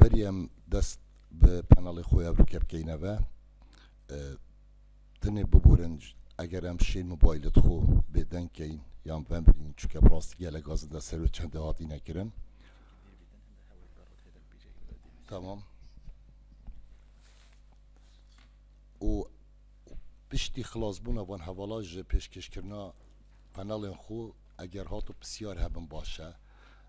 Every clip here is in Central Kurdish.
بەریەم دەست بە پەنەڵی خۆی ئەوروکە بکەینەوە دنێ ببورن ئەگەر ئەم شین مۆبایلت خۆ بێدەنکەین یان بەم برین چکە بڕاستگە لە گازدا سەر و چەندە هاتی نەکردن تمام و پشتی خلاص بوونە بۆن هەواڵاژ پێشکەشکردنا پەنەڵێن خۆ ئەگەر هات و پرسیار هەبم باشە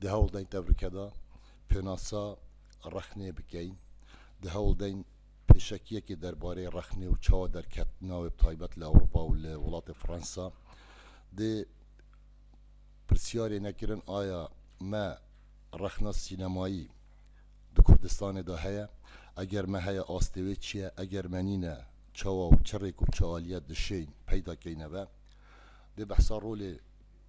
دە هەوڵ دەین تەڤرکەدا پێناسە ڕەخنێ بکەین، دە هەوڵ دەین پێشەکییەکێ دەربارەی ڕەخنێ و چاوە دەرکەتنا وێ بتایبەت لە ئەوڕوپا و لە وڵاتێ فڕەنسا دێ پرسیارێ نەکرن ئایا مە ڕەخنە سینەمایی دو کوردستانێ دا هەیە؟ ئەگەر مە هەیە ئاستێ وێ چییە؟ ئەگەر مە نینە چاوا و چ ڕێک و چ ئالییە دشێین پەیدا کەینەوە؟ دێ بەحسا ڕۆلێ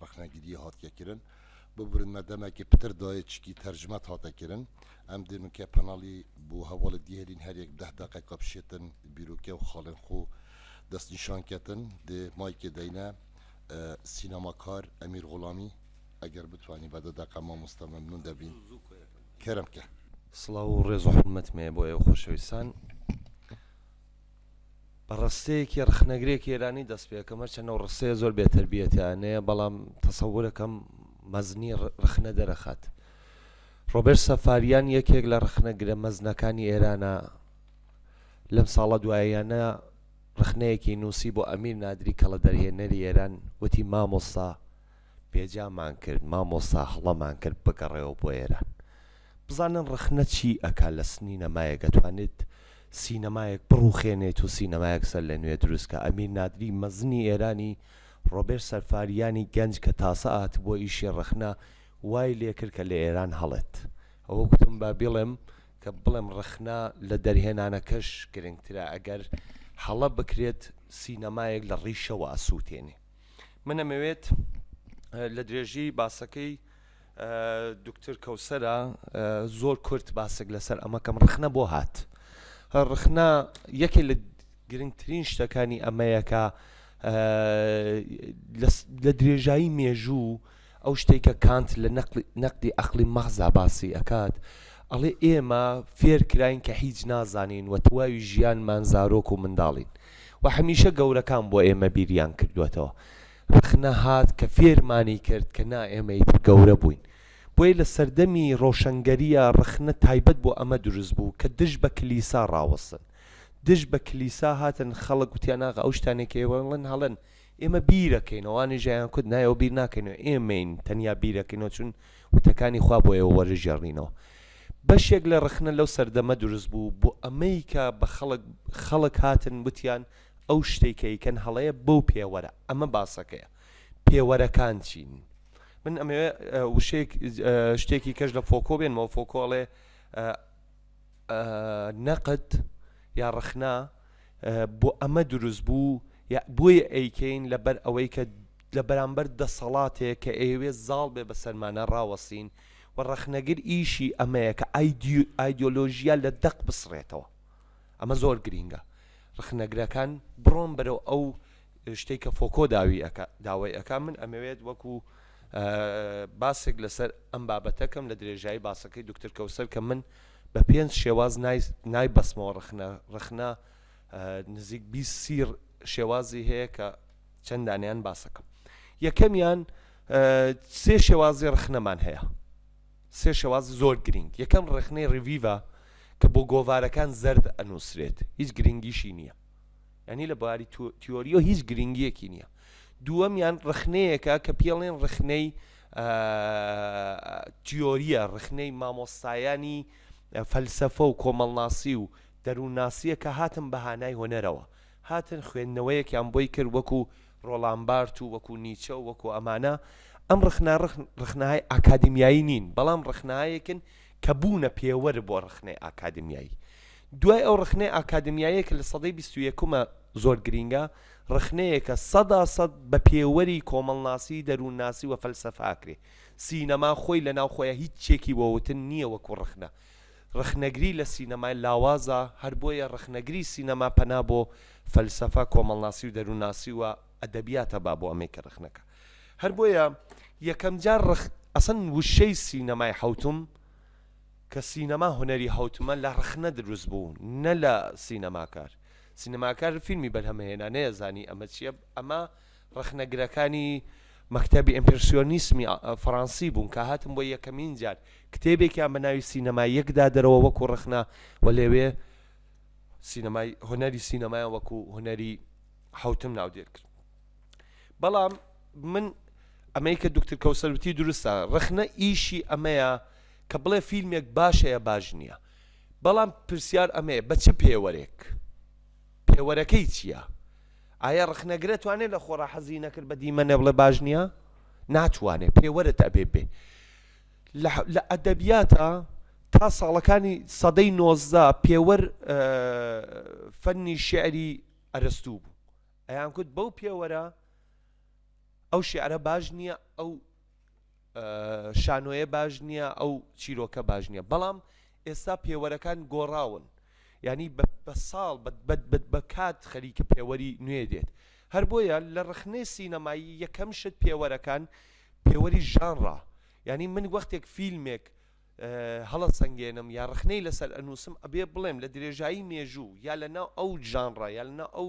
ڕەخنەگریە هاتیە کرن ببورن مە دەمەکێ پتر دایێ چکی تەرجمەت هاتە کرن ئەم دیمکە پەناڵی بو هەواڵێ دیهێلین هەر یەک دەه دەقەکە بشێتن بیروکێ و خاڵێن خو دەست نیشان کەتن دێ مایکێ دەینە سینەماکار ئەمیر غوڵامی ئەگەر بتوانی بە دە دەقە مامۆستا مەمنون دەبین کەرم کە. سڵاو و ڕێز و حورمەتمێ بۆ ئێوە خۆشەویستان. بە ڕستەیەکی ڕخنەگرێکی ئێرانی دەست پێ کەم هەرچەند ئەو ڕستەیە زۆر بێتەربیەتیانەیە بەڵام تەسەورەکەم مەزنی ڕخنە دەرەخات ڕۆبەر سەفاریان یەکێک لە ڕخنە گرە مەزنەکانی ئێرانە لەم ساڵە دوایەنە ڕخنەیەکی نووسی بۆ ئەمیر نادری کەڵە دەرهێنەری ئێران وتی مامۆستا پێجامان کرد مامۆستا هەڵەمان کرد بگەڕێوە بۆ ئێران بزانن ڕەخنە چی ئەکا لە سنینەمایەک ئەتوانێت سینەمایەک بڕوخێنێت و سینەمایەک سەر لە نوێ دروست کە ئەمیر نادری مەزنی ئێرانی ڕۆبێر سەرفاریانی گەنج کە تاسە ئات بۆ ئیشی ڕەخنە وای لێکرد کە لە ئێران هەڵێت ئەوە گوتم با بڵێم کە بڵێم ڕەخنە لە دەرهێنانەکەش گرنگترە ئەگەر هەڵە بکرێت سینەمایەک لە ڕیشەوە ئەسووتێنێ من ئەمەوێت لە درێژی باسەکەی دکتر کەوسرە زۆر کورت باسێک لەسەر ئەمەکەم ڕخنە بۆ هات ڕخنە یەکێ لە گرنگترین شتەکانی ئەمەیەکە لە درێژایی مێژوو ئەو شتەی کە کانت لە نەقدی عەقڵی مەحضا باسی ئەکات ئەڵێ ئێمە فێر کراین کە هیچ نازانین و تەواوی ژیانمان زارۆک و منداڵین و هەمیشە گەورەکان بۆ ئێمە بیریان کردووەتەوە ڕەخنە هات کە فێرمانی کرد کە نا ئێمە ئیتر گەورە بووین بۆیە لە سەردەمی ڕۆشەنگەرییا ڕەخنە تایبەت بۆ ئەمە دروست بوو کە دژ بە کلیسا ڕاوەستن دژ بە کلیسا هاتن خەڵک وتیان ئاغا ئەو شتانەی کە ئێوە ئەڵێن هەڵەن ئێمە بیرەکەینەوە وانە ژیان کورد نایەوە بیر ناکەینەوە ئێمەین تەنیا بیرەکەینەوە چون وتەکانی خوا بۆ ئێوە وەرژێڕنینەوە بەشێک لە ڕەخنە لەو سەردەمە دروست بوو بۆ ئەمەی کە بە خەڵک خەڵک هاتن وتیان ئەو شتەی کە ئەیکەن هەڵەیە بەو پێوەرە ئەمە باسەکەیە پێوەرەکان چین من ئەمەوێ وشەیەک شتێکی کەش لە فۆکۆ بێنمەوە فۆکۆڵێ نەقد یا ڕخنا بۆ ئەمە دروست بوو بۆیە ئەیکەین لەبەر ئەوەی کە لە بەرامبەر دەسەڵاتێک کە ئێوێ زاڵ بێ بە سەرمانە ڕاوەسین و ڕەخنەگر ئیشی ئەمەیە کە ئایدۆلۆژیە لە دەق بسڕێتەوە ئەمە زۆر گرینگە ڕخنەگرەکان بڕۆن بەرەو ئەو شتەی کە فۆکۆ داوی ئەکا داوای ئەکا من ئەمەوێت وەکو باسێک لەسەر ئەم بابەتەکەم لە درێژایی باسەکەی دکتر کەوسەر کە من بە پێنج شێواز نای بەسمەوە ڕخنە ڕخنە نزیک بی سیر شێوازی هەیە کە چەندانیان باسەکەم یەکەمیان سێ شێوازی ڕخنەمان هەیە سێ شێواز زۆر گرنگ یەکەم ڕخنەی ڕڤیڤە کە بۆ گۆوارەکان زرد ئەنووسرێت هیچ گرنگیشی نییە یعنی لە باری تیۆریۆ هیچ گرنگیەکی نییە دووەمیان ڕخنەیەکە کە پێڵێن ڕخنەی تیۆریە ڕخنەی مامۆستایانی فەلسەفە و کۆمەڵناسی و دەروونناسیە کە هاتن بە هانای هۆنەرەوە هاتن خوێندنەوەیەکیان بۆی کرد وەکو ڕۆڵامبارت و وەکو نیچە و وەکو ئەمانە ئەم ڕخنا ڕخناهای ئاکادمیایی نین بەڵام ڕخنایەکن کە بوونە پێوەر بۆ ڕخنەی ئاکادمیایی دوای ئەو ڕەخنەی ئاکادمیاییە کە لە سەدەی بیست و یەکما زۆر گرینگە، ڕەخنەیەکە سەدا سەد بە پێوەری کۆمەڵناسی، دەروونناسی و فەلسەفە ئەکرێ. سینەما خۆی لە ناو خۆیا هیچ چیەکی بۆ وتن نیە وەکو ڕەخنە. ڕەخنەگری لە سینەما لاوازە، هەر بۆیە ڕەخنەگری سینەما پەنا بۆ فەلسەفە، کۆمەڵناسی و دەروونناسی و ئەدەبیات ئەبا بۆ ئەمەی کە ڕەخنەکە. هەر بۆیە یەکەم جار ڕەخ ئەسڵەن وشەی سینەمای حەوتم، کە سینەما هونەری هەوتمە لە ڕەخنە دروست بوو نە لە سینەماکار سینەماکار فیلمی بەرهەمە هێنا نەیەزانی ئەمە چیە ئەمە ڕەخنەگرەکانی مەکتتەبی ئەمپرسیۆنیسمی فەڕەنسی بوون کە هاتم بۆ یەکەمین جار کتێبێکیان بە ناوی سینەما یەکدا دەرەوە وەکو ڕەخنە و لەوێ سینەمای هونەری سینەمایان وەکو هونەری حوتم ناودێر کرد بەڵام من ئەمەی کە دکتر کەوسەروتی دروستە ڕخنە ئیشی ئەمەیە کە بڵێ فیلمێک باشەیە باش نییە بەڵام پرسیار ئەمەیە بە چ پێوەرێک پێوەرەکەی چییە؟ ئایا ڕخنەگرە توانێت لە خۆڕا حەزی نەکرد بە دیمە نەبڵێ باش نییە ناتوانێت پێوەرت ئەبێ بێ لە ئەدەبیاتە تا ساڵەکانی سەدەی نۆزدا پێوەر فەنی شعری ئەرستوو بوو ئەیانگوت بەو پێوەرە ئەو شعرە باش نییە ئەو شانۆیە باش نییە ئەو چیرۆکە باش نییە بەڵام ئێستا پێوەرەکان گۆڕاون ینی بە ساڵ بە کات خەریکە پێوەری نوێ دێت هەر بۆیە لە ڕخنەی سینەمایی یەکەم شت پێوەرەکان پێوەری ژانڕە ینی من وەختێک فیلمێک هەڵە سنگێنم یا ڕخنەی لەسەر ئەنووسم ئەبێ بڵێم لە درێژایی مێژوو یا لە ناو ئەو ژانڕە یا لە ناو ئەو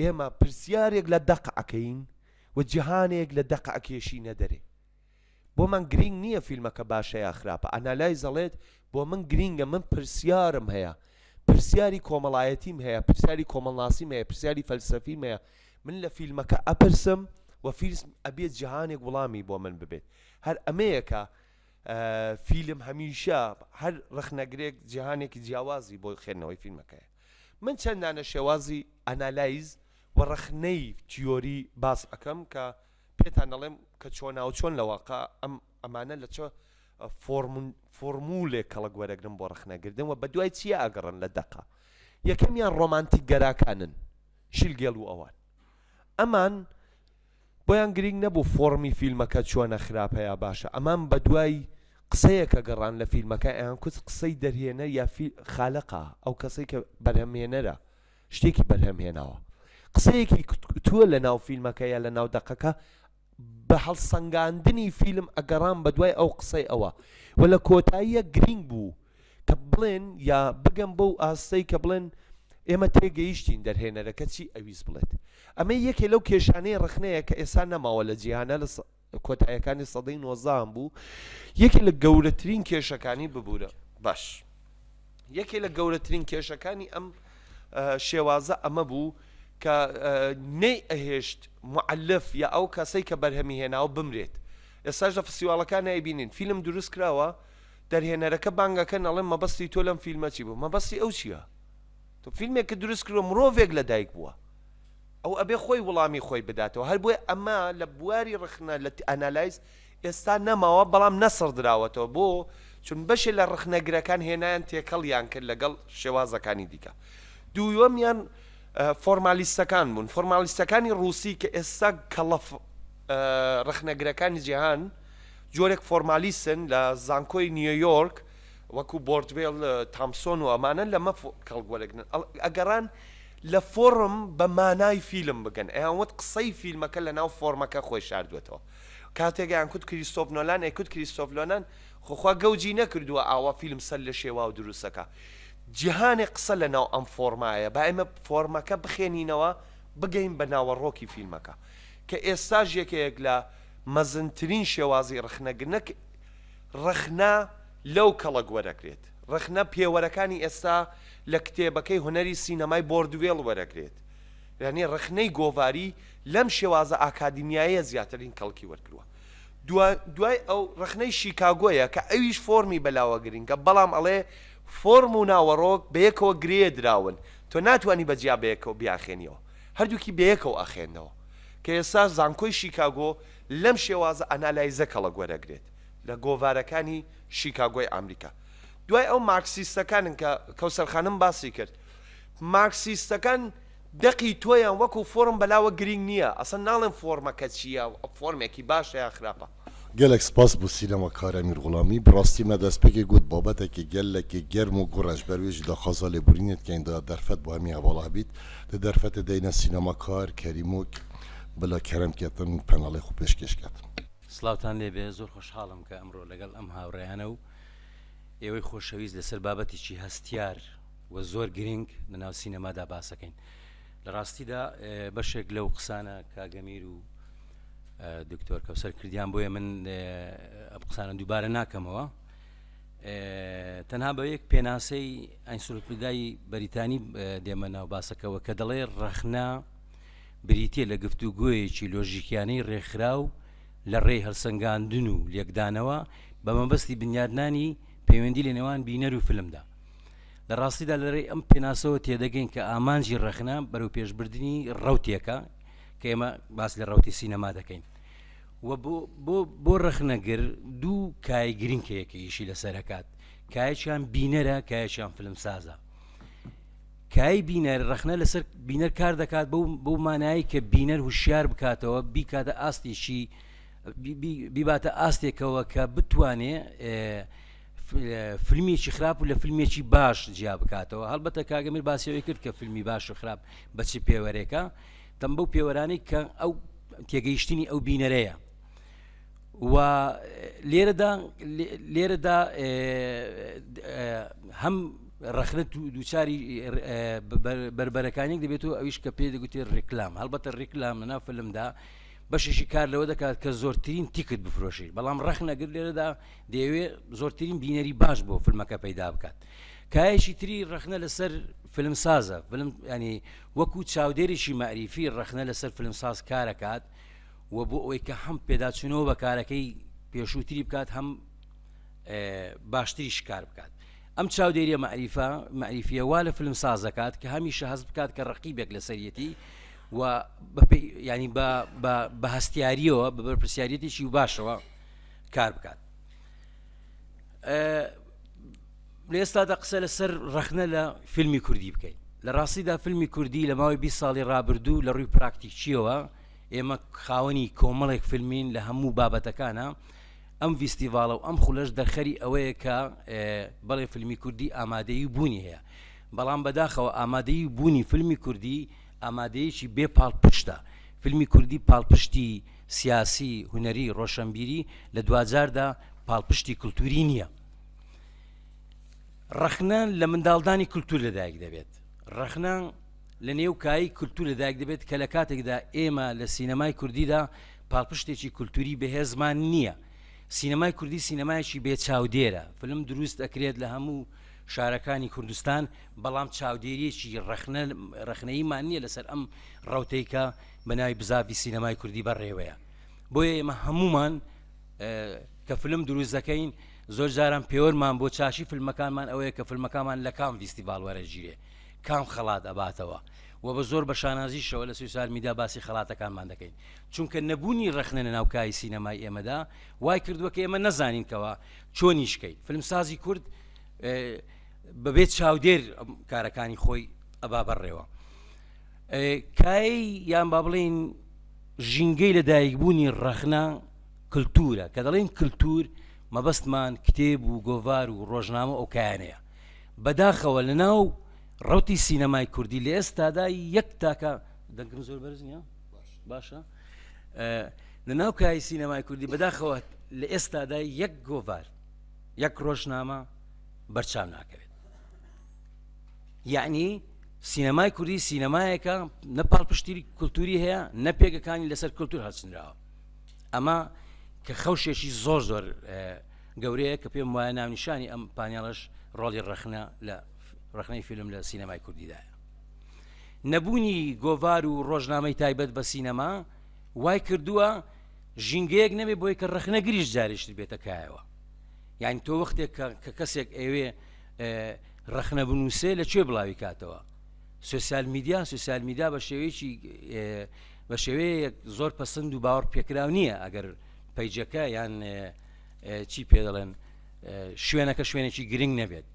ئێمە پرسیارێک لە دەق ئەکەین و جیهانێک لە دەق ئەکێشینە دەرێ. بۆمان گرینگ نییە فیلمەکە باشە یا خراپە، ئانالایز ئەڵێت بۆ من گرینگە من پرسیارم هەیە، پرسیاری کۆمەڵایەتیم هەیە، پرسیاری کۆمەڵناسیم هەیە، پرسیاری فەلسەفیم هەیە، من لە فیلمەکە ئەپرسم و فیلم ئەبێت جیهانێک وڵامی بۆ من ببێت. هەر ئەمەیە کە فیلم هەمیشە هەر ڕەخنەگرێک جیهانێکی جیاوازی بۆ خوێندنەوەی فیلمەکەیە. من چەند دانە شێوازی ئانالایز و ڕەخنەی تیۆری باس ئەکەم کە پێتان ئەڵێم کە چۆناوچۆن لە واقع ئەم ئەمانە لە چە فۆرمولێک کەڵک وەرەگرن بۆ ڕەخنەگردن و بەدوای چیە ئەگەڕن لە دەقە یەکەمیان ڕۆمانتیکگەراکانن شیلگێڵ و ئەوان ئەمان بۆیان گرینگ نەبوو فۆڕمی فیلمەکە چۆنە خراپە یا باشە ئەمان بەدوای قسەیەکە گەڕان لە فیلمەکە ئەیان کوت قسەی دەرهێنەر یا خالەقە ئەو کەسەی کە بەرهەمهێنەرە شتێکی بەرهەم هێناوە قسەیەکی کوتوە لە ناو فیلمەکە یا لە ناو دەقەکە بە هەڵسەنگاندنی فیلم ئەگەڕان بەدوای ئەو قسەی ئەوە وە لە کۆتاییە گرینگ بوو کە بڵێن یا بگەم بەو ئاستەی کە بڵێن ئێمە تێگەیشتین دەرهێنەرەکە چی ئەویست بڵێت ئەمە یەکێ لەو کێشانەی ڕخنەیە کە ئێستا نەماوە لە جیهانە لە کۆتایەکانی سەدەی نۆزدان بوو یەکێ لە گەورەترین کێشەکانی ببوورە باش یەکێ لە گەورەترین کێشەکانی ئەم شێوازە ئەمە بوو کە نەی ئەهێشت معلف یا ئەو کەسەی کە بەرهەمی هێناوە بمرێت ئێستاش لە فسیواڵەکان نایبینین فیلم دروست کراوە دەرهێنەرەکە بانگەکەن ئەڵێن مەبەستی تۆ لەم فیلمە چی بوو مەبەستی ئەو چیە تۆ فیلمێکە دروست کردوە مرۆڤێک لە دایک بووە ئەو ئەبێ خۆی وڵامی خۆی بداتەوە هەر بۆیە ئەمە لە بواری ڕخنە لە ئەنالایز ئێستا نەماوە بەڵام نەسڕ دراوەتەوە بۆ چون بەشێ لە ڕخنەگرەکان هێنایان تێکەڵیان کرد لەگەڵ شێوازەکانی دیکە دووەمیان فۆرمالیستەکان بوون فۆرمالیستەکانی ڕووسی کە ئێستا کەڵەف ڕخنەگرەکانی جیهان جۆرێک فۆرمالیستن لە زانکۆی نیۆیۆرک وەکو بۆردوێل تامسۆن و ئەمانە لەمە کەڵک وەرەگرن ئەگەڕان لە فۆڕم بە مانای فیلم بگەن ئەیان وت قسەی فیلمەکە لە ناو فۆرمەکە خۆی شاردوێتەوە کاتێک ئەیان کوت کریستۆف نۆلان ئەیکوت کریستۆف لۆنان خۆخوا گەوجی نەکردووە ئاوا فیلم سەر لە شێواو دروستەکە جیهانێک قسە لە ناو ئەم فۆرمایە با ئێمە فۆرمەکە بخێنینەوە بگەین بە ناوەڕۆکی فیلمەکە کە ئێستاش یەکەیەک لە مەزنترین شێوازی ڕەخنەگرنەک ڕەخنە لەو کەڵک وەرەگرێت ڕەخنە پێوەرەکانی ئێستا لە کتێبەکەی هونەری سینەمای بۆردوێڵ وەرەگرێت یانی ڕەخنەی گۆڤاری لەم شێوازە ئاکادیمیایە زیاترین کەڵکی وەرگروە دوا دوای ئەو ڕەخنەی شیکاگۆیە کە ئەویش فۆرمی بەلاوە گرینگە بەڵام ئەڵێ فۆرم و ناوەڕۆک بەیەکەوە گرێدراون تۆ ناتوانی بە جیا بەیەکەوە بیاخێنیەوە. هەردووکی بەیەکەوە ئەخێنەوە کە ئێستا زانکۆی شیکاگۆ لەم شێوازە ئەنالایزە کەڵک وەرەگرێت لە گۆڤارەکانی شیکاگۆی ئامریکا دوای ئەو مارکسیستەکانن کە کەوسەر خانم باسی کرد مارکسیستەکان دەقی تۆیان وەکو فۆرم بەلاوە گرینگ نیە ئەسڵەن ناڵێن فۆرمەکە چیە فۆرمێکی باشە یان خراپە گەلەک سپاس بو سینەما کارە میر غوڵامی بڕاستی مە دەسپێکێ گوت بابەتەکێ گە لە کێ گەرم و گوڕە ژبەر وێ ژی داخازا لێ بورینێت کەین دا دەرفەت بو هەمی هەواڵە هەبیت دە دەرفەتێ دەینە سینەما کار کەریمۆک بلا کەرەم کێتن پەناڵێ خو پێش کێش کەت. سڵاوتان لێبێ زۆر خۆشحاڵم کە ئەمڕۆ لەگەڵ ئەم هاوڕێیانە و ئێوەی خۆشەویست لەسەر بابەتێکی هەستیار و زۆر گرنگ لەناو سینەمادا باسەکەین. لە ڕاستیدا بەشێک لەو قسانە کاک ئەمیر و دکتۆر کەوسەر کردیان بۆیە من ئەم قسانە دووبارە ناکەمەوە تەنها بە یەک پێناسەی ئەنسلوپدای بەریتانی دێمە ناو باسەکەەوە کە دەڵێ ڕەخنا بریتە لە گفتوگوۆیەکی لۆژیکیانەی ڕێکخرا و لە ڕێی هەلسەنگاندن و لێکدانەوە بە مەبەستی بنیادنانی پەیوەندی لە نێوان بینەر و فلمدا لە ڕاستیدا لەرەی ئەم پێناسەوە تێدەگەین کە ئامانجی ڕەخنا بەرەو پێشبردننی ڕوتێکە کە ئێمە باس لە ڕوتی سینەما دەکەین بۆ ڕەخنەگر دوو کای گرنگ کە یەکەیشی لەسەرکات کایچیان بینەرە کایچیان فلم سازە کای بینەر ڕخنە لەسەر بینەر کار دەکات بەو مانایی کە بینەر هوشیار بکاتەوە بیکاتە ئاستێکی بیباتە ئاستێکەوە کە بتوانێ فلمیی خراپ و لە فلمێکی باش جیا بکاتەوە هەڵبەتە کاگەمیر باسیەوەی کرد کە فیلمی باش و خراپ بەچ پێوەرێکە تەم بەو پێوەرانی کە ئەو تێگەیشتنی ئەو بینەرەیە و لێرەدا لێرەدا هەم ڕخنت و دووچاری بربەرەکانیک دەبێت و ئەویش کە پێ دەگوتێ ڕێکلام هەڵبەتە ڕێکلام لەنا فلمدا بەشێکی کار لەوە دەکات کە زۆرترین تیکت بفرۆشی بەڵام ڕخنەگر لێرەدا دەیەوێت زۆرترین بینەری باش بۆ فلمەکە پەیدا بکات کایەکی تری ڕەخنە لەسەر فلمسازە فلم ینی وەکو چاودێریی مەریفی ڕەخنە لەسەر فلمساز کارەکات و بۆ ئەوەی کە هەم پێداچوونەوە بە کارەکەی پێشووتری بکات هەم باشتری شکار بکات ئەم چاودێریە مەریفە مەریفیە وا لە فلم سازەکات کە هەمیشە هەست بکات کە ڕقیبێک لە سەرەتی و ینی بە هەستیاریەوە بە بەرپسیارەتێکی و باشەوە کار بکات لێستادا قسە لەسەر ڕخنە لە فیلمی کوردی بکەین لە ڕاستیدا فیلمی کوردی لە ماوەی 20 ساڵی ڕابردوو لە ڕووی پراکتیکیەوە ئێمە خاوەنی کۆمەڵێک فیلمین لە هەموو بابەتەکانە ئەم ویستیڤالە و ئەم خولەش دەرخەری ئەوەیە کە بەڵێ فیلمی کوردی ئامادەی بوونی هەیە بەڵام بەداخەوە ئامادەی بوونی فیلمی کوردی ئامادەیەکی بێ پاڵپشتە. فیلمی کوردی پاڵپشتی سیاسی، هونەری، ڕۆشەنبیری لە دواجاردا پاڵپشتی کلتوری نییە. ڕەخنە لە منداڵدانی کلتور لە دایک دەبێت. ڕەخنە لە نێو کایی کلتور لە دایک دەبێت کە لە کاتێکدا ئێمە لە سینەمای کوردیدا پاڵپشتێکی کلتوری بەهێزمان نییە. سینەمای کوردی سینەمایەکی بێ چاودێرە. فیلم دروست ئەکرێت لە هەموو شارەکانی کوردستان بەڵام چاودێرییەکی ڕەخنەییمان نییە لەسەر ئەم ڕەوتەی کە بەناوی بزاڤی سینەمای کوردی بەڕێوەیە بۆیە ئێمە هەمومان کە فلم دروست دەکەین زۆر جاران پێوەرمان بۆ چاشی فیلمەکانمان ئەوەیە کە فیلمەکانمان لە کام ویستیڤال وەرەگیرێ کام خەڵات ئەباتەوە و بە زۆر بە شانازیشەوە لە سوسال میدا باسی خەڵاتەکانمان دەکەین چونکە نەبوونی ڕخنە لە ناوکای سینەمای ئێمەدا وای کردووە کە ئێمە نەزانینکەوە چۆنیشکەین فلمسازی کورد بەبێت چاودێر کارەکانی خۆی ئەبا بەڕێوە کای یان با بڵین ژینگەی لە دایکبوونی ڕەخنا کللتورە کە دەڵێن کللتور مەبەستمان کتێب و گۆڤار و ڕۆژنامە ئەو کایانەیە بەداخەوە لە ناو ڕوتی سینەمای کوردی لە ئێستادا یەک تاکە دەنگم زۆر بەرز نیە باشە لە ناو کای سینەمای کوردی بەداخەوە لە ئێستادا یەک گۆڤار یەک ڕۆژنامە بەرچاو ناکەوێت یعنی سینەمای کوردی سینەمایەکە نە پاڵپشتیری کولتوری هەیە نە پێگەکانی لەسەر کولتور هەچنراوە ئەمە کە خەوشێکی زۆر زۆر گەورەیە کە پێم وایە ناونیشانی ئەم پانیاڵش ڕۆڵی ڕەخنە لە ڕخنەی فیلم لە سینەمای کوردیدایە نەبوونی گۆڤار و ڕۆژنامەی تایبەت بە سینەما وای کردووە ژینگەیەک نەبێ بۆی کە ڕخنەگریش جارشت بێتە کایەوە یانی تۆ وەختێک کە کەسێک ئەوێ ڕەخنە بنووسێ لە کوێ بڵاوی کاتەوە سوسیال میدیا سوسیال میدا بە شێوەیەکی بە شێوەیەک زۆر پسند و باوەڕ پێکراو نییە ئەگەر پیجەکە یان چی پێ دەڵێن شوێنەکە شوێنێکی گرنگ نەبێت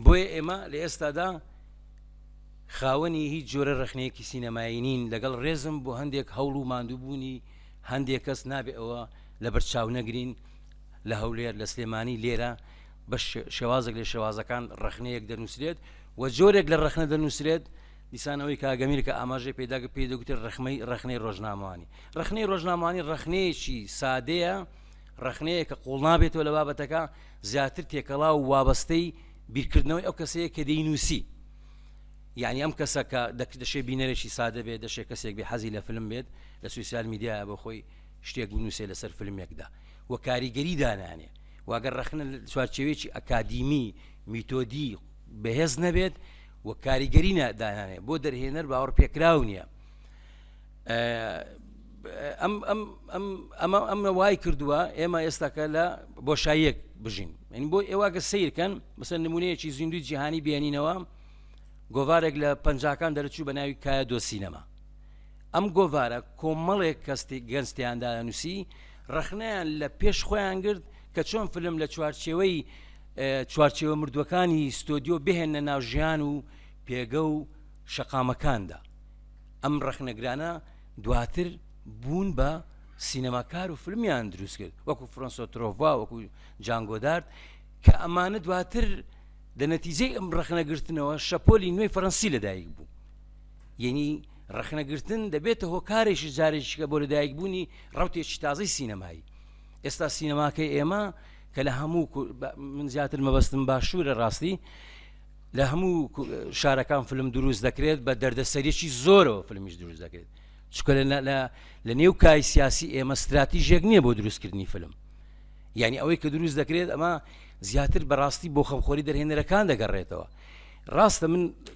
بۆیە ئێمە لە ئێستادا خاوەنی هیچ جۆرە ڕخنەیەکی سینەمایی نین لەگەڵ ڕێزم بۆ هەندێک هەوڵ و ماندووبوونی هەندێک کەس نابێ ئەوە لە بەرچاو نەگرین لە هەولێر، لە سلێمانی، لێرە بە شێوازێک لە شێوازەکان ڕەخنەیەک دەنووسرێت و جۆرێک لە ڕەخنە دەنووسرێت دیسان ئەوەی کاگەمیر کە ئاماژەی پێدا کە پێی دەگوتێت ڕەخمەی ڕەخنەی ڕۆژنامەوانی ڕەخنەی ڕۆژنامانی ڕەخنەیەکی سادەیە ڕەخنەیە کە قوڵ نابێتەوە لە بابەتەکە زیاتر تێکەڵا و وابەستەی بیرکردنەوەی ئەو کەسەیە کە دەینوسی یعنی ئەم کەسە کە دەشێ بینەرێکی سادە بێت دەشێ کەسێک بێ حەزی لە فلم بێت لە سوسیال میدیایە بۆ خۆی شتێک بنووسێ لەسەر فیلمێکدا و کاریگەری دانانێ و ئەگەر ڕەخنە چوارچێوێکی ئەکادیمی میتۆدی بەهێز نەبێت و کاریگەری نادانانێ بۆ دەرهێنەر باوەڕ پێکراو نییە ئەمە ئەمە وای کردووە ئێمە ئێستاکە لە بۆشاییەک بژین من بۆ ئێواگە سیرکەن بەسە نمونەیەکی زیندوی جیهانی بێنینەوە گۆوارێک لە پەنجاکان دەرچوو بە ناوی کایە دۆسینەما ئەم گۆڤارە کۆمەڵێک کەس گەنج تیاندایە نووسی ڕخنەیان لە پێش خۆیان گرت کە چۆن فلم لە چوارچێوەی چوارچێوە مردووەکانی ستۆدیۆ بهێنە ناو ژیان و پێگە و شەقامەکاندا ئەم ڕخنەگرانە دواتر بوون بە سینەماکار و فلمیان دروست کرد وەکو فرۆنسۆ ترۆڤا وەکو جانگۆدارد کە ئەمانە دواتر دە نەتیجەی ئەم ڕخنەگرتنەوە شەپۆلی نوێی فەرەنسی لەدایک بوو یەنی ڕەخنە گرتن دەبێتە هۆکارێکی جارێکیکە بۆ لەدایک بوونی ڕوتێکی تازەی سینەمایی ئێستا سینەماکەی ئێمە کە لە هەموو من زیاتر مەبەستم باشوورە ڕاستی لە هەموو شارەکان فلم دروست دەکرێت بە دەردەسەرێکی زۆرەوە فلمیش دروست دەکرێت چکە لە نێو کای سیاسی ئێمە استراتیژێک نییە بۆ دروستکردنی فلم یعنی ئەوەی کە دروست دەکرێت ئەمە زیاتر بەڕاستی بۆ خەمخۆری دەرهێنەرەکان دەگەڕێتەوە ڕاستە من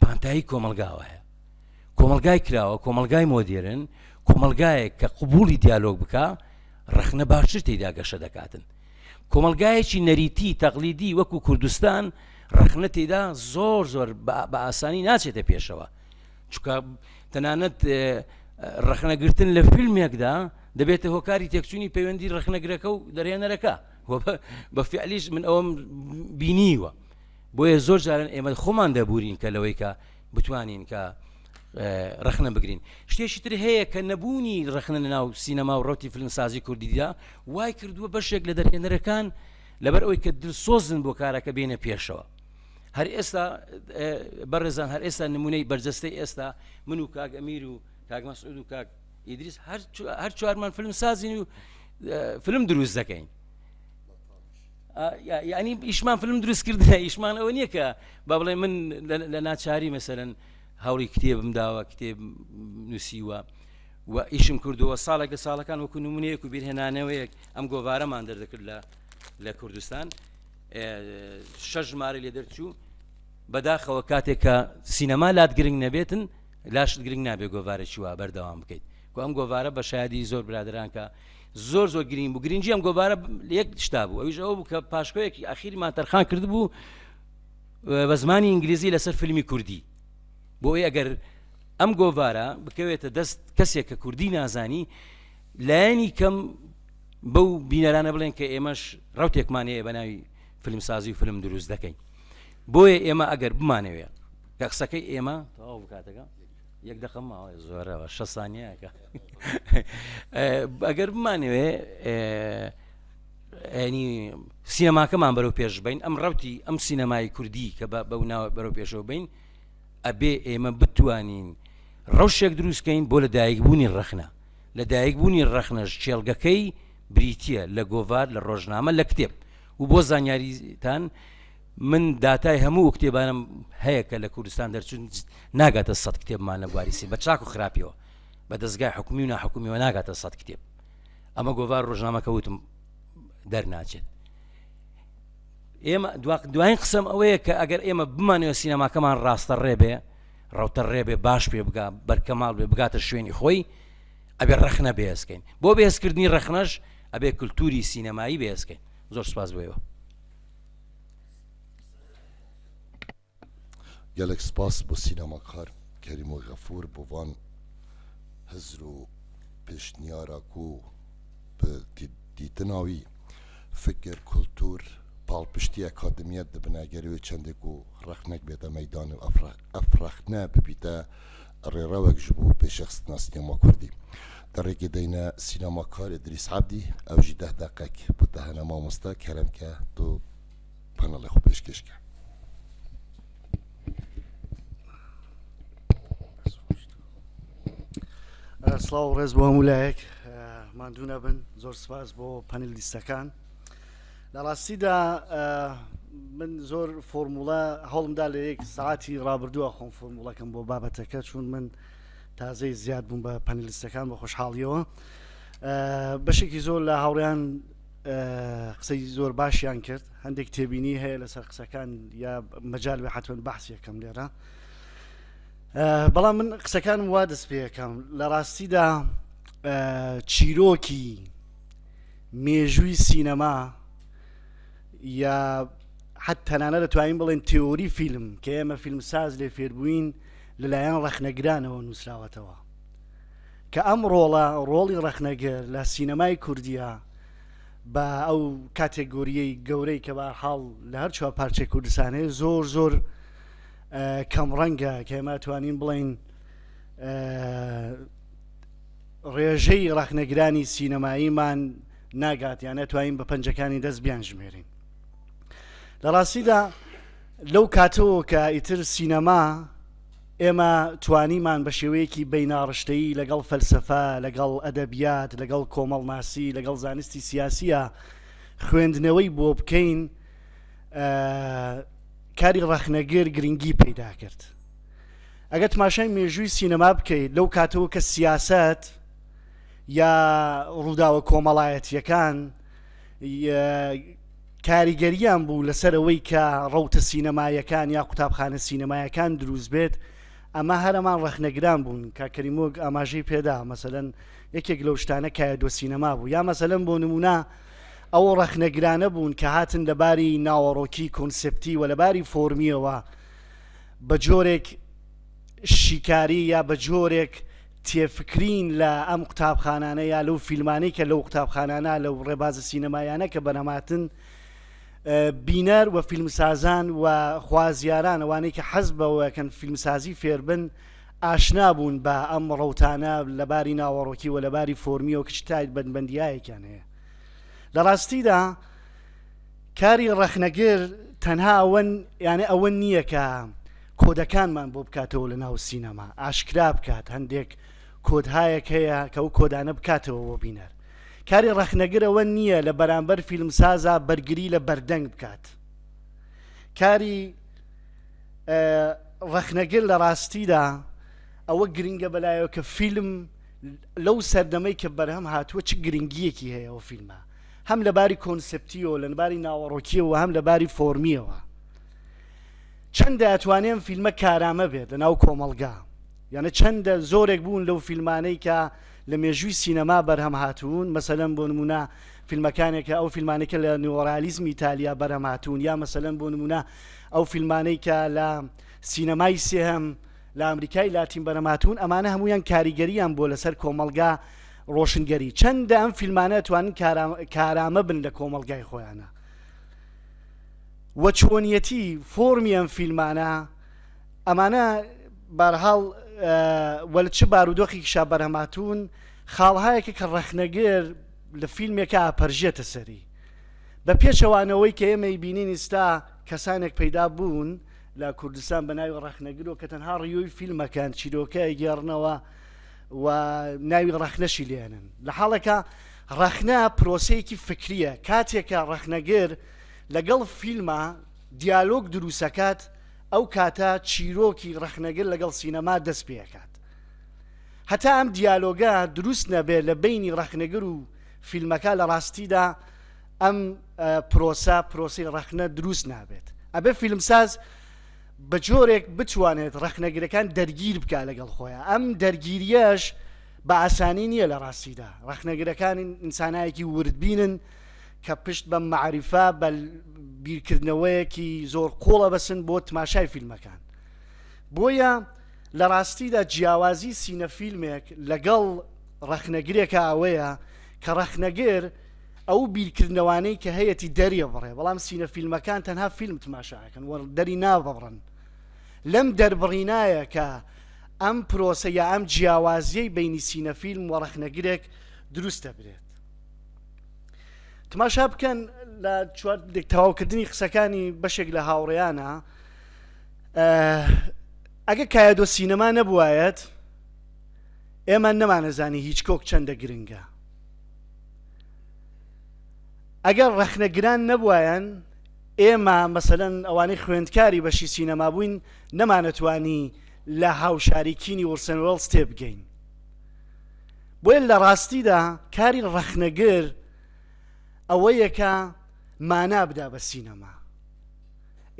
پانتایی کۆمەلگاوە هەیە کۆمەلگای کراوە کۆمەلگای مۆدیرن کۆمەلگایەک کە قوبولی دیالۆگ بکە ڕخنە باشتر تێدا گەشە دەکاتن کۆمەلگایەکی نەریتی تەقلیدی وەکو کوردستان ڕخنە تێدا زۆر زۆر بە ئاسانی ناچێتە پێشەوە چکە تەنانەت ڕخنەگرتن لە فیلمێکدا دەبێتە هۆکاری تێکچوونی پەیوەندی ڕخنەگرەکە و دەرێنەرەکە بە فعلیش من ئەوم بینیوە بۆیە زۆر جاران ئێمە خۆمان دەبورین کە لەوەی کە بتوانین کە ڕخنە بگرین شتێکی تر هەیە کە نەبوونی ڕخنە لە ناو سینەما و ڕوتی فلمسازی کوردیدا وای کردووە بەشێک لە دەرهێنەرەکان لەبەر ئەوی کە دلسۆزن بۆ کارەکە بینە پێشەوە هەر ئێستا بەڕێزان هەر ئێستا نمونەی بەرجەستەی ئێستا من و کاک ئەمیر و کاک مەسعود و کاک ئیدریس هەر چوارمان فلم سازین و فلم دروست دەکەین یعنی ئیشمان فلم دروست کردنە ئیشمان ئەوە نییە کە با بڵێ من لە ناچاری مەسەرن هەوڵی کتێبم داوە کتێب نووسیوە و ئیشم کردووە ساڵێک لە ساڵەکان وەکو نمونەیەک و بیرهێنانەوەیەک ئەم گۆوارەمان دەردەکرد لە لە کوردستان شەش ژمارە لێ دەرچوو بەداخەوە کاتێک کە سینەما لات گرنگ نەبێتن لاشت گرنگ نابێ گۆوارە چوە بەردەوام بکەیت کو ئەم گۆوارە بە شادی زۆر برادرانکە زۆر زۆر گرنگ بوو گرنگجی ئەم گۆبارە یەک شتا بوو ئەویش ئەو بوو کە پاشکۆیەکی ئەخیرمان تەرخان کرد بوو بە زمانی ئینگلیزی لەسەر فیلمی کوردی بۆی ئەگەر ئەم گۆڤارە بکەوێتە دەست کەسێک کە کوردی نازانی لایەنی کەم بەو بینەرانە بڵێن کە ئێمەش ڕوتێکمان هەیە بە ناوی فیلمسازی و فیلم دروست دەکەین بۆیە ئێمە ئەگەر بمانەوێت کە قسەکەی ئێمە تەواو بکاتەکە یەک دەقە ماوەێ زۆرەوە شە سانیەکە ئەگەر بمانەوێ ئەنی سینەماکەمان بەرەو پێش بین ئەم ڕوتی ئەم سینەمای کوردی کە بە بەو ناوە بەرەو پێشەوە بین ئەبێ ئێمە بتوانین ڕەوشێک دروستکەین بۆ لە دایکبوونی ڕەخنە لە دایکبوونی ڕەخنەش چێلگەکەی بریتە لە گۆڤار لە ڕۆژنامە لە کتێب و بۆ زانیاریتان من داتای هەموو ئەو کتێبانەم هەیە کە لە کوردستان دەرچوون ناگاتە سەد کتێبمان لە بواری سێ بە چاک و خراپیەوە بە دەستگای حکومی و ناحکومیەوە ناگاتە سەد کتێب ئەمە گۆڤار ڕۆژنامەکە وتم دەرناچێت ئێمە دوایین قسم ئەوەیە کە ئەگەر ئێمە بمانەوە سینەماکەمان ڕاستە ڕێبێ ڕوتە ڕێبێ باش پێ بگا بەرکەماڵ بێ بگاتە شوێنی خۆی ئەبێ ڕەخنە بێزکەین بۆ بێزکردنی ڕەخنەش ئەبێ کللتوری سینەمایی بێزکەین زۆر سپاس بۆیەوە گەلەک سپاس بۆ سینەماکار کەریم و غەفور بۆ وان هزر و پێشنیارا کو بە دیتناوی فکر کلتور پاڵپشتی ئەکادمیەت دبنە گەروێ چەندێک و ڕەخنەک بێتە مەیدان و ئەف ڕەخنە ببیتە ڕێڕەوێک ژ بوو پێ شەخستنا سینەما کوردی. دە ڕێگێ دەینە سینەماکار ئیدریس عەبدی، ئەو ژی دەه دەقەک بۆ دەهەنە مامۆستا کەرەم کە دو پەنەڵێ خۆ پێشکێش کە. سڵاو و ڕێز بۆ هەموو لایەک ماندوو نەبن زۆر سپاس بۆ پەنل لیستەکان. لە ڕاستیدا من زۆر فۆرموڵە هەوڵمدا لە یەک ساعتی ڕابردووە خۆم فۆرموڵەکەم بۆ بابەتەکە چون من تازەی زیاد بووم بە پەنلیستەکان بە خۆشحاڵیەوە بەشێکی زۆر لە هاوڕیان قسەی زۆر باشیان کرد هەندێک تێبینی هەیە لەسەر قسەکان یا مەجال بە حتممە بەحسیەکەم لێرە بەڵام من قسەکانم وا دەست پێەکەم لە ڕاستیدا چیرۆکی مێژووی سینەما یا حەت تەنانە دەتوانین بڵێن تێۆری فیلم کە ئێمە فیلم ساز لێ فێربووین لەلایەن ڕەخنەگرانەوە نووسراوەتەوە کە ئەم ڕۆڵە ڕۆڵی ڕەخنەگر لە سینەمای کوردیا بە ئەو کاتێگۆریی گەورەی کە بە حاڵ لە هەر چوە پارچە کوردستانێ زۆر زۆر کەم ڕەنگە کە ئێمە توانین بڵین ڕێژەی ڕەخنەگرانی سینەماییمان ناگات یان ئەتوانین بە پەنجەکانی دەست بیانژمێرین لە ڕاستیدا لەو کاتەوە کە ئیتر سینەما ئێمە توانیمان بە شێوەیەکی بیناڕشتەیی لەگەڵ فەلسفە لەگەڵ ئەدەبیات لەگەڵ کۆمەڵناسی لەگەڵ زانستی سیاسیە خوێندنەوەی بۆ بکەین کاری ڕەخنەگر گرنگی پەیدا کرد ئەگەر تماشای مێژووی سینەما بکەیت لەو کاتەوە کە سیاسەت یا ڕووداوە کۆمەڵایەتیەکان کاریگەریان بوو لەسەرەوەی کە ڕەوتە سینەمایەکان یا قوتابخانە سینەمایەکان دروست بێت ئەمە هەرەمان ڕەخنەگران بوون کە کەریمۆک ئاماژەی پێدا مەسەن یەکێک لەو شتانە کایە دۆ سینەما بوو یا مەسەلەن بۆ نمونە ئەو ڕەخنەگرانە بوون کە هاتن لەباری ناوەڕۆکی کۆنسپتی و لەباری فۆرمیەوە بە جۆرێک شیکاری یا بە جۆرێک تێفکرین لە ئەم قوتابخانانە یا لەو فیلمانەی کە لەو قوتابخانانە لەو ڕێبازە سینەمایانە کە بەنەماتن بینەر و فیلمسازان و خوازیاران ئەوانەی کە حەز بەوەکەن فیلمسازی فێربن ئاشنا بوون بە ئەم ڕوتانە لەباری ناوەڕۆکی و لەباری فۆرمی و کچتایت بەندبندیایەکیان هەیە لە ڕاستیدا کاری ڕەخنەگر تەنها ئەوە یانە ئەوە نییە کە کۆدەکانمان بۆ بکاتەوە لە ناو سینەما ئاشکرا بکات هەندێک کۆدهایەک هەیە کە ئەو کۆدانە بکاتەوە بۆ بینەر کاری ڕەخنەگرەوە نییە لە بەرامبەر فیلمسازا بەرگری لە بەردەنگ بکات کاری ڕەخنەگر لە ڕاستیدا ئەوە گرنگە بەلایەوە کە فیلم لەو سەردەمەی کە بەرهەم هاتووە چ گرنگیەکی هەیە ئەو فیلمە هەم لە باری کۆنسپتیەوە لە باری ناوەڕۆکیەوە هەم لە باری فۆرمیەوە چەندە ئەتوانێن فیلمە کارامە بێت لە ناو کۆمەلگا یانە چەندە زۆرێک بوون لەو فیلمانەی کە لە مێژووی سینەما بەرهەم هاتوون مەسەلەن بۆ نمونە فیلمەکانێکە ئەو فیلمانێکە لە نیۆرالیزم ئیتالیا بەرهەم هاتوون یا مەسەلەن بۆ نمونە ئەو فیلمانەی کە لە سینەمای سێهەم لە ئەمریکای لاتین بەرەماتون ئەمانە هەمویان کاریگەریان بۆ لەسەر کۆمەلگا ڕۆشنگەری چەندە ئەم فیلمانە توانن کارامە بن لە کۆمەلگای خۆیانە وە چۆنیەتی فۆرمی ئەم فیلمانە ئەمانە بارهاڵ وەل چ بارودۆخی شا بەرهەماتون خاڵهایەکە کە ڕەخنەگر لە فیلمێکە پەرژێتە سەری بە پێچەوانەوەی کە ئێمەی بینین ئستا کەسانێک پەیدا بوون لە کوردستان بە ناوی ڕەخنەگرۆ کە تەنها ڕیۆی فیلمەکان چیرۆکە گێڕنەوە و ناوی ڕەخنەشی لێنن لە حاڵێکە ڕەخنە پرۆسەیەکی فکریە کاتێکە ڕەخنەگر لەگەڵ فیلمە دیالۆگ دروسەکات ئەو کاتە چیرۆکی ڕەخنەگر لەگەڵ سینەما دەست پێکات هەتا ئەم دیالۆگە دروست نەبێت لە بینی ڕەخنەگر و فیلمەکە لە ڕاستیدا ئەم پرۆسە پرۆسی ڕەخنە دروست نابێت ئەبێ فیلمساز بە جۆرێک بتوانێت ڕەخنەگرەکان دەرگیر بکە لەگەڵ خۆیان ئەم دەرگیریەش بە ئاسانی نییە لە ڕاستیدا ڕەخنەگرەکان ئینسانایەکی وردبینن کە پشت بە معریفا بە بیرکردنەوەیەکی زۆر قۆڵە بەسن بۆ تماشای فیلمەکان بۆیە لە ڕاستیدا جیاوازی سینە فیلمێک لەگەڵ ڕەخنەگرێکە ئەوەیە کە ڕەخنەگر ئەو بیرکردنەوانەی کە هەیەتی دەریبڕێ، بەڵام سینە فیلمەکان تەنها فیلم تماشا ئەکەن و دەری نابڕن. لەم دەربڕینایە کە ئەم پرۆسە یا ئەم جیاوازیەی بینی سینە فیلم و ڕەخنەگرێک دروست دەبرێت. تماشا بکەن لە چوار تەواوکردنی قسەکانی بەشێک لە هاوڕێیانە ئەگە کایەدۆ سینەما نەبوایەت ئێمە نەمانەزانی هیچ کۆک چەندە گرنگە ئەگەر ڕەخنەگران نەبوایەن ئێمە مەسەلەن ئەوانەی خوێندکاری بەشی سینەما بووین نەمانەتوانی لە هاوشاریکینی وڵسن وڵس تێبگەین بۆیە لە ڕاستیدا کاری ڕەخنەگر ئەوە یەکە مانا بدا بە سینەما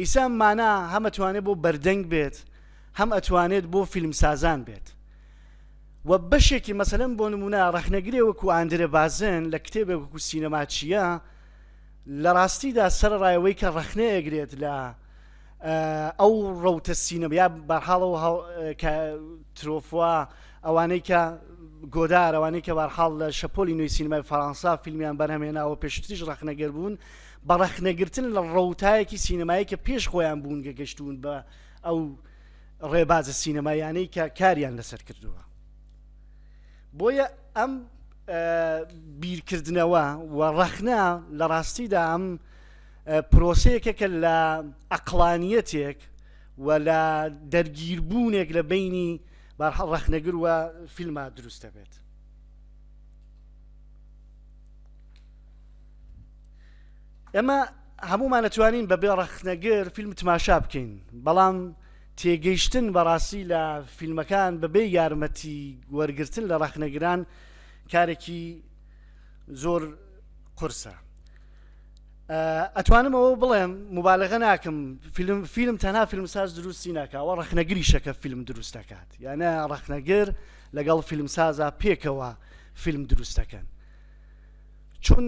ئیسا مانا هەمەتوانێت بۆ بەردەنگ بێت هەم ئەتوانێت بۆ فیلمسازان بێت و بەشێکی مەسەلەن بۆ نموونە ڕەخنەگرێ وەکوو ئاندرێ بازێن لە کتێبێک وەکوو سینەما چییە لە ڕاستیدا سەرەڕای ئەوەی کە ڕەخنە ئەگرێت لە ئەو ڕەوتە سینەما یا بەرحاڵەوە کە ترۆفوا ئەوانەی کە گۆدار ئەوانەی کە بارحاڵ لە شەپۆلی نوێی سینەمای فەرەنسا فیلمیان بەرهەمێناوە پێشتریش ڕەخنەگەر بوون بە ڕەخنەگرتن لە ڕەوتایەکی سینەمایی کە پێش خۆیان بوون گەگەشتون بە ئەو ڕێبازە سینەمایانەی کە کاریان لەسەر کردووە بۆیە ئەم بیرکردنەوە و ڕەخنا لە ڕاستیدا ئەم پرۆسەیەکە کە لە ئەقلانیەتێک و لە دەرگیربوونێک لە بینی بارحە ڕەخنەگر وە فیلما دروست دەبێت ئێمە هەمومان ئەتوانین بەبێ ڕەخنەگر فیلم تماشا بکەین بەڵام تێگەیشتن بەڕاستی لە فیلمەکان بەبێ یارمەتی وەرگتن لە ڕەخنەگران کارێکی زۆر قورسە ئەتوانم ئەوە بڵێم مبالغە ناکەم فیلم فیلم تەنها فیلم ساز دروستی ناکەوە ڕخنەگری شەکە فیلم دروست دەکات یانە ڕخنەگر لەگەڵ فیلم سازا پێکەوە فیلم دروست دەکەن چون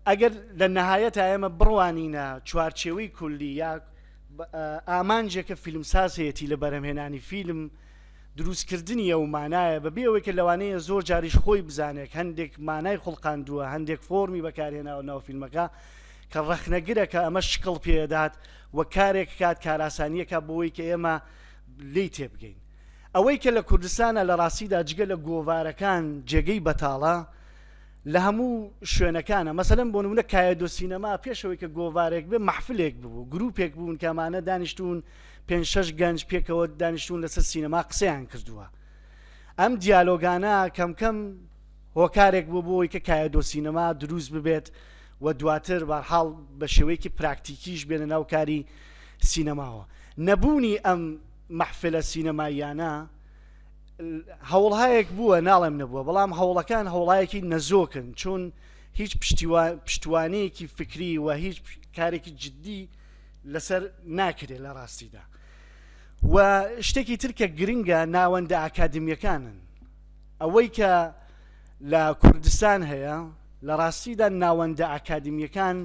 ئەگەر لە نەهایەت ئێمە بڕوانینە چوارچێوەی کولی یا ئامانجێکە فیلمسازەتی لە بەرەمهێنانی فیلم دروستکردنی ئەو مانایە بە بێەوەی کە لەوانەیە زۆر جاریش خۆی بزانێت هەندێک مانای خوڵقاندووە هەندێک فۆمی بەکارهێناوە ناو فیلمەکە کە ڕەخنەگرەکە ئەمە شکڵ پێدات و کارێک کات کاراسانیەکە بۆی کە ئێمە لی تێبگەین ئەوەی کە لە کوردستانە لە ڕاستیدا جگە لە گۆوارەکان جێگەی بەتاڵە لە هەموو شوێنەکانە مەسەلەن بۆ نمونە کایەدۆ سینەما پێشەوەی کە گۆوارێک بێ محفلێک ببوو گروپێک بوون کەمانە دانیشتون پێ شش گەنج پێکەوە دانیشتون لەسەر سینەما قسەیان کردووە ئەم دیالۆگانە کەمکەم هۆکارێک بۆ بۆی کە کایەدۆ سینەما دروست ببێت و دواتر بارحاڵ بە شێوەیەکی پراکتیکیش بێنە ناوکاری سینەماوە نەبوونی ئەم محفلە سینەماییانە هەوڵهایەک بووە ناڵێم نەبووە بەڵام هەوڵەکان هەوڵایەکی نەزۆکن چون هیچ پشتوانەیەکی فکری و هیچ کارێکی جددی لەسەر ناکرێت لە ڕاستیدا و شتێکی ترکە گرنگە ناوەندە ئاکادمیەکانن ئەوەی کە لە کوردستان هەیە لە ڕاستیدا ناوەندە ئاکادمیەکان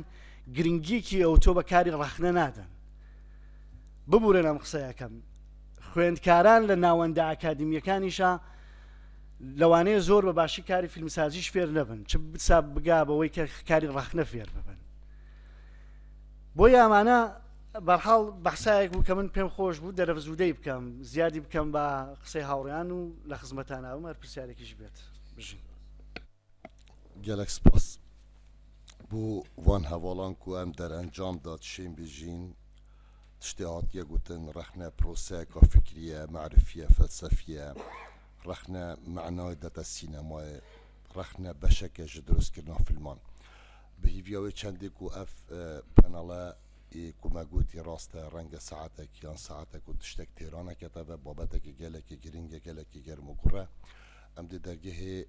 گرنگیکی ئەوتۆ بە کاری ڕەخنە نادەن ببورن ئەم قسەیەکەم خوێندکاران لە ناوەندە ئاکادمییەکانیشا لەوانەیە زۆر بە باشی کاری فیلمسازیش فێر نەبن چ بسا بگا بەوەی کە کاری ڕەخنە فێر ببن بۆ یامانە بەرحاڵ بەحسایەک بوو کە من پێم خۆش بوو دەرەفزوودەی بکەم زیادی بکەم بە قسەی هاوڕیان و لە خزمەتاناوم هەر پرسیارێکیش بێت بژین گەلەک سپاس بو وان هەواڵان کو ئەم دەرئەنجام دا تشێن بیژین تشتێ هاتیە گوتن ڕەخنە پرۆسەیەکا فکریە مەعرفیە فەلسەفیە ڕەخنە مەعنای دەتە سینەمای ڕەخنە بەشەکە ژە دروست کردنا فلمان بهیڤیاوێ چەندێک و ئەف پەنەڵە کومەگوتی ڕاستە ڕەنگە سەعاتێک یان سەعاتێک و تشتێک تێرانەکەتەوە بابەتێکی گەلێکی گرنگە گەلێکی گەرم و گوڕە ئەم دێ دەرگەهێ